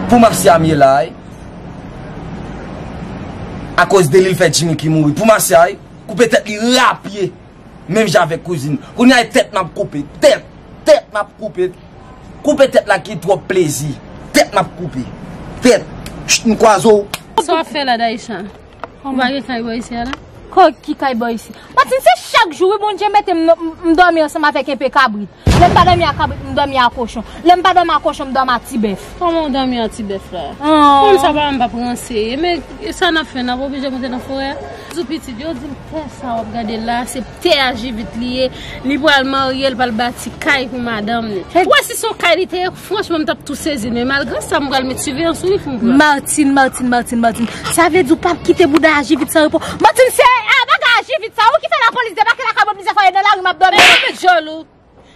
Pou Marcia m ye la wi. A koz de li l fè Jimmy ki mouri pou Marcia wi. Koupe tèt li rapye menm jan avèk kouzin. Kounya e tèt map koupe. Tèt Tèt map koupe. Koupe tèt la ki twòp plezi. Tèt map koupe. Tèt Chut m kwaze w. Sa wap fè la Daisha? Ou pa gen kay bò isi a la? Kò ki kay bò isi? Matin se chak jou wi Bondye mete m m dòmi ansanm avèk enpe kabrit. Lè m pa dòmi a kabrit m dòmi a kochon. Lè m pa dòmi a kochon m dòmi a ti bèf. Kòman ou dòmi a ti bèf la? Moun sa pa wè m p ap ranse. E men sa n ap fè? N ap oblije moute nan forè a? Zou pitit, yo di m tè sa w ap gade la a se tè a Jivit li ye. Li pral marye, li pral bati kay pou madanm li. Ou wè si s on kay li te ye? Franchman m tap tou sezi men malgre sa m pral met siveyans sou li pou m pran. Martine Martine Martine Martine sa vle di ou pap kite bouda aji vit san repo Martine se a bagay aji vit sa ou ki fè lapolis debake lakay mwen plizyè fwa e nan lari map domi. Epa met djòl ou.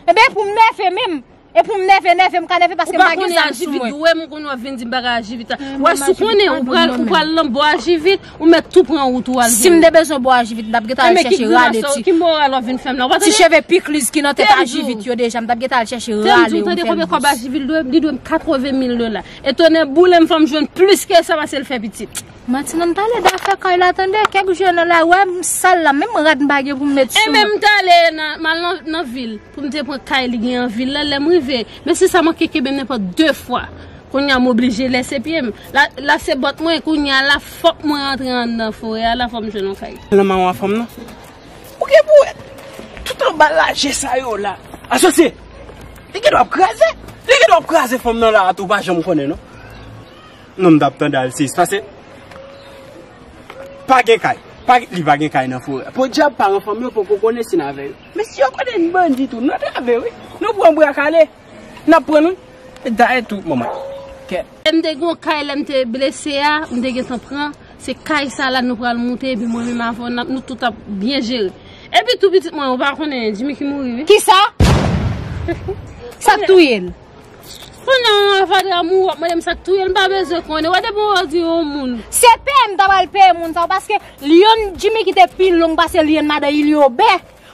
Ebyen e pou m nève menm E pou m nève nève m ka nève paske m pa gen nève sou mwen. Ou pa konn aji vit ou wè m ou konn wap vin di m bagay aji vit la wè si w konnen ou pral ou pral nan bò aji vit Ou met tou pran wout ou al vini. Sim te bezwen bo ajivit mtap gentan al chèche rale ti. Ki moral wap vin fèm la ou pa tande. Ti cheve pikliz ki nan tèt ajivit yo deja mtap gentan al chèche rale yon pelvis. Tèm di ou tande konbyen kòb ajivit dwem li dwem 80 mil dola e tonnè boulem fòm jwenn plis ke sa pasel fè pitit. Manti nan pale dafè kay la tande kèk jou yo nan lari wèm sal la menm rad mpa gen poum met sou mwen. Enben mtale mal nan vil poum te pran kay li gen an vil la lèm rive mesye sa manke kenbem nenpòt 2 fwa kounya moblije lèse pyem. La se bòt mwen kounya la fòk mwen antre anndan forè a la fòm jwenn yon kay. Lan maron a fanm nan. Ou gen pou wè tout anba laje sa yo la. Asosye! Li gen dwa ap kraze. Li gen dwa ap kraze fanm nan la a tou ou pa janm konnen non. Non m tap tande al sis pase pa gen kay. Pa gen li pa gen kay nan forè a. Podyab paran fanm yo poko konnen si n avè yo. Men si yo konnen n bandi tou n antrave wi. Nou pran bra kale. Nap prann wi e dayè tou manman kè. M te gen yon kay lèm te blese a m te gentan pran se kay sa la nou pral moute epi mwen menm avèw nap nou tout ap byen jere epi tou pitit mwen ou pa konnen Jimmy ki mouri wi. Kisa? Sak touyel? Kounye an a fatra mouri wap mandem sak touyel m pa bezwen konnen wè depi wè di yon moun. Se peye m ta pral peye moun sa yo paske lyenn Jimmy ki te pi long pase lyenn madan Iliobe.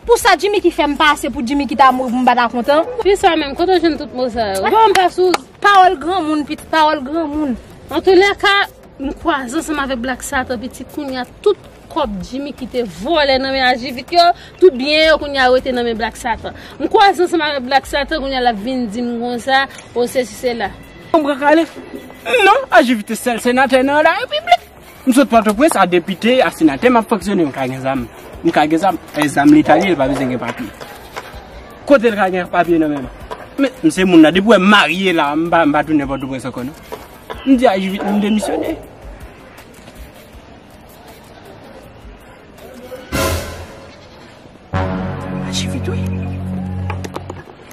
Pou sa Jimmiky fè m pa ase pou Jimmiky ta mouri pou m pa ta kontan. Fi sa menm kote w jwenn tout mo sa yo. Bon pa sou. Pawòl granmoun pitit pawòl granmoun. Antoulèka m kwaze ansanm avèk Black Satan pitit kounya tout kòb Jimmiky te vòlè nan men Ajivit yo tout byen yo kounya rete nan men Black Satan m kwaze ansanm avèk Black Satan kounya lap vin di m konsa o sesi sela. Konbren kale. Non Ajivit te sèl senatè nan la repiblik. M sot pòtoprens a depite a senatè map fonksyone m ka gen zam m ka gen zam e zam leta li ye l pa bezwen gen papye kote l ka gen papye nan men l men m se moun nan depi w wè m marye la m pa m pa tounen pòtoprens ankò non m di a jivit mwen m demisyone. A jivit wi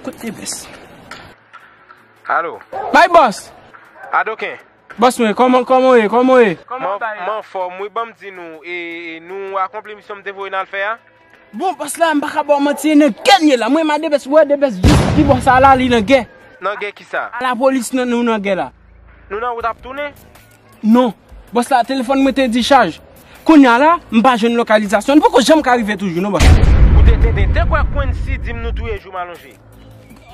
kot te bès. Alo. May bòs. Adoken. Boss mwen koman koman ou ye koman ou ye. M anfòm wi banm di nou e nou akonpli misyon m te voye n al fè a? Bon boss la m paka baw manti nan gè m ye la mwen m a de best wè de best jis di bon sa la li nan gè. Nan gè kisa? A la polis nan nou nan gè la. Nou nan wout ap tounen? Non boss la telefòn mwen te di chaj kounya la m pa jwenn lokalizasyon n poko janm ka rive toujou non boss. Ou te tenten te kwè Quency di m nou touye jou m alonje?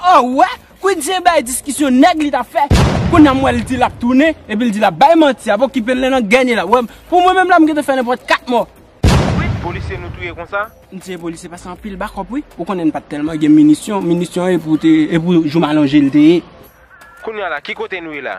An wè! Queen Jay bay diskisyon nèg li tap fè Kounya m wè l di lap tounen epi l di lap bay manti ap okipe l nen nan geny la wè m pou mwen menm la m gentan fè nenpòt 4 mò. Wid polisye nou touye konsa. Msye polisye pase anpil bakòp wi ou konnen n pat tèlman gen minisyon, minisyon e pou te e pou joumalonje l te ye. Kounya la ki kote nou ye la?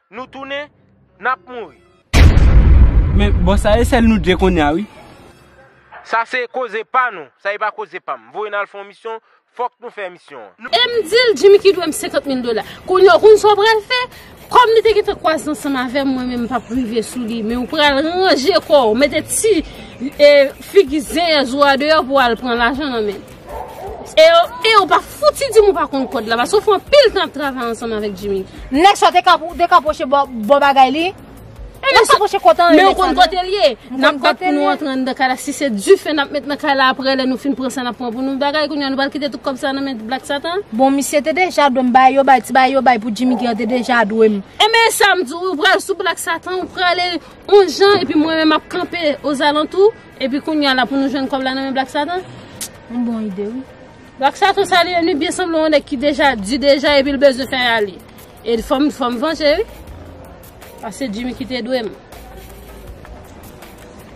Nou tounen nap mouri. Men bon sa e sel nou 2 konnya wi. Sa se koze pa nou, sa e pa koze pam. Voye n al fè yon misyon, fòk nou fè misyon an. E m di l, Jimmy ki dwe m 50 mil dola. Kounya w konn sa w pral fè? Kòm li te gentan kwaze ansanm avè m, mwen menm m p ap rive sou li. Men w pral ranje kò w, mete ti figi zen zo a deyò pou w al pran lajan nan men l. E ou pa fouti di m ou pa konn kòd la paske ou fè anpil tan ap travay ansanm avèk Jimmy. Nèg sa te ka pou te ka pwoche bò bò bagay li. E nèg sa pwoche kòt anyen nèg sa. Men ou konn kote l ye. M konn kote l ye. N ap bat pou nou antre anndan kay la si se dife n ap met nan kay la aprè lè nou fin pran sa n ap pran pou nou bagay kounye a nou pral kite tout kòb sa nan men Black Satan. Bon misye te deja dwe m bagay yo bay ti bagay yo bay pou Jimmy gen an te deja dwe m. E men sa m di w ou pral sou Black Satan ou prale on jan epi mwen menm m ap kanpe ozalantou. Epi kounya la pou nou jwenn kòb la nan men Black Satan? Yon bon ide wi. Black Satan sa li menm li byen sanble yon nèg ki deja di deja epi li bezwen fè rale. E fòm fòm vanje wi. Pase Jimmy ki te dwe m.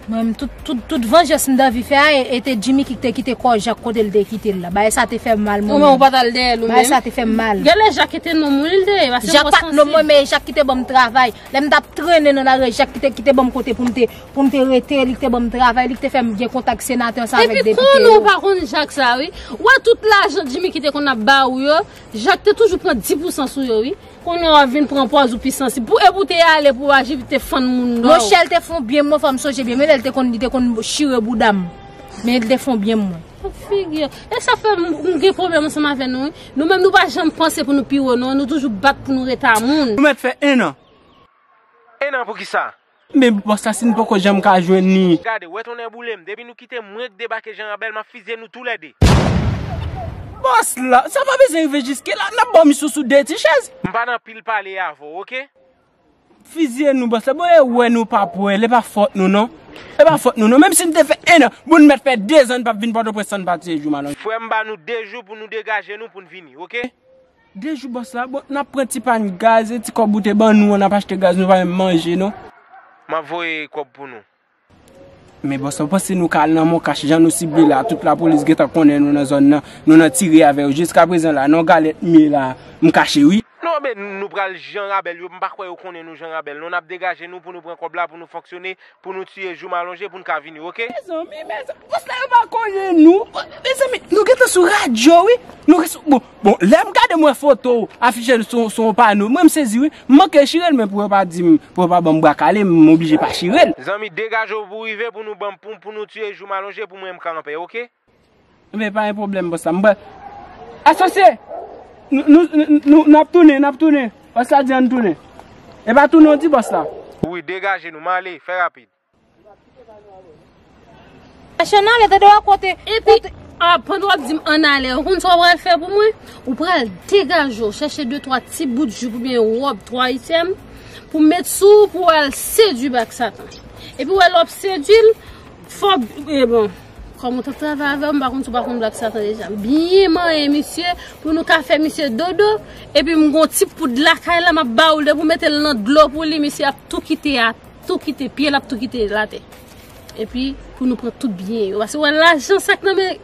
Mwen menm tout tout tout vanjans m danvi fè a e te Jimmy ki te kite kò Jacques kote l te kite l la. Bagay sa te fè m mal mwen menm. Ou menm ou pat al dèyè l ou menm? Bagay sa te fè m mal. Gen lè Jacques te nonm wi li te ye. Jacques pat nonm mwen men e Jacques ki te ban m travay. Lè m tap trennen nan lari e Jacques ki te ki te ban m kote pou m te Pou m te rete, li k te ban m travay, li k te fè m gen kontak senatè sa avèk depite yo. Epi konnenw pa konn Jacques sa wi. Ou wè tout lajan Jimmiky te konn ap ba ou yo, Jacques te toujou pran 10 pousan sou yo wi. Konnenw wap vin pran pòz ou pi sansib. Pou epi w te ale pou w aji vit te fann moun dò. Monchè l te fon byen mwen fò m sonje byen. Men lè l te konn li te konn chire bouda m. Men l te fon byen mwen. Pou figi yo. E sa fè m gen pwoblèm ansanm avè nou wi. Nou menm nou pa janm panse pou nou pi wo non. Nou toujou bat pou nou ret a moun. Nou mèt fè 1 an. 1 an pou kisa? Men boss la sin poko janm ka jwenn li. Gade wè tonnè boulem depi nou kitem mwen k debake janrabèl map fizye nou tou lè 2. Boss la sa pa bezwen rive jiske la nap banm sousou 2 ti chèz. M pa nan pil pale avèw ok. Fizye nou boss la bon e wè nou pap wèl e pa fòt nou non e pa fòt nou non menm si nou te fè 1 an bon nou mèt fè 2 zan nou pap vin pòtoprens san nou pa tiye jou malòn. Frèm ba nou 2 jou pou nou degaje nou poun vini ok. 2 jou boss la bon nap pran ti pan gaz e ti kob ou te ban nou an nap achte gaz nou pa menm manje non. Map voye kob pou nou. Men boss ou panse nou ka al nan moncash jan nou sible la tout lapolis gentan konnen nou nan zòn nan nou nan tire avèw jiska prezan la non galèt mye la m kache wi. Non men nou pral jan rabèl yo m pa kwè yo konnen nou jan rabèl non nap degaje nou pou nou pran kob la pou nou fonksyone pou nou tiye joum alonje pou n ka vini ok. Mezanmi mezanmi bòs la yo pa konnen nou mezanmi nou gentan sou radyo wi nou res bon bon lèm gade mwen foto ou afije sou yon pano mwen m sezi wi m manke chire l men pou yo pa di m pou yo pa banm bwa kale m oblije pa chire l. Zanmi degaje w pou rive pou nou banm pou nou tiye joum alonje pou mwen m ka anpè ok. Ebyen pa gen pwoblèm bòs la. M pral Asosye! Nou nap tounen, nap tounen. Bòs la di ann tounen. E pa tounen w di bòs la. Wi degaje nou, m ale, fè rapid. Chachè n ale, tande w a kote. Epi pandan w ap di m ann ale, ou konn sa w pral fè pou mwen? Ou pral degaje w, chèche de twa ti bout jup oubyen wòb twa ityèm pou met sou ou pou w al sedui bak satan. Epi w wè lè w ap sedui l, fò, e bon. Kòm ou tap travay avèw m pa konn si w pa konn black satan deja m byen manyen misye pou nou ka fè misye dodo epi m gon ti poud lakay la map ba ou l depi w mete l nan dlo pou li misye ap tou kite a tou kite pye l ap tou kite l atè epi pou nou pran tout byen yo paske wè lajan sak nan men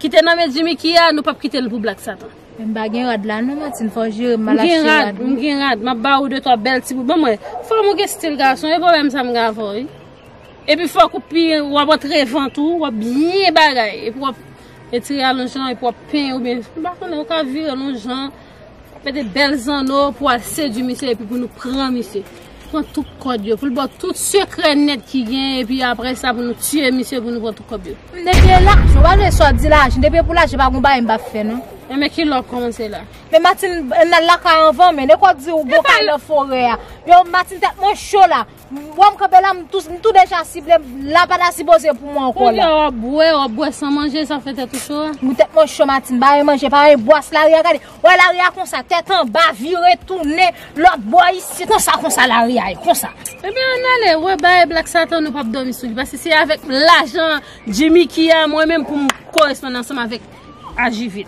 ki te nan men Jimmy ki a nou pap kite l pou black satan. Men m pa gen rad la non Martine fò w jere m mal achte rad. M gen rad, m gen rad, map ba ou de twa bèl ti bout banm wè. Fòm ou gen stil gason, e pwoblèm sa m gen avè w wi. Epi fòk ou pi wap antre vant ou, wap byen bagay. Epi wap etire al yon jan, epi wap penyen ou byen. M pa konnen, ou ka vire l yon jan. Mete bèl zanno pou wal sedui misye epi pou nou pran misye. Pran tout kòd yo, pou l ba w tout sekrè nèt ki gen, epi apre sa pou nou tiye misye pou nou pran tout kòb yo. M te vle lajan, ou pa vle sa w di lajan. Depi e pou lajan pa gon bagay m pa fè non. E men kilè wap kòmanse la? Men Martine, ann al lakay anvan men. Lè kòw di ou bon kay nan forè a. Yow Martine tèt mwen cho la. M wèm kanpe la m tou deja sible la pata sipoze pou mwen ankò la. Koulye wap bwè wap bwè san manje sa fè tèt ou cho a. Mwen tèt mwen cho Martine pa yon manje pa yon bwè se lari a gade wè lari a konsa tèt anba vire tounen lòt bò isit konsa konsa lari a ye konsa. Ebyen ann ale wè bae Black Satan nou pap dòmi sou li paske se avèk lajan Jimmiky a mwen menm poum koresponn ansanm avèk Ajivit.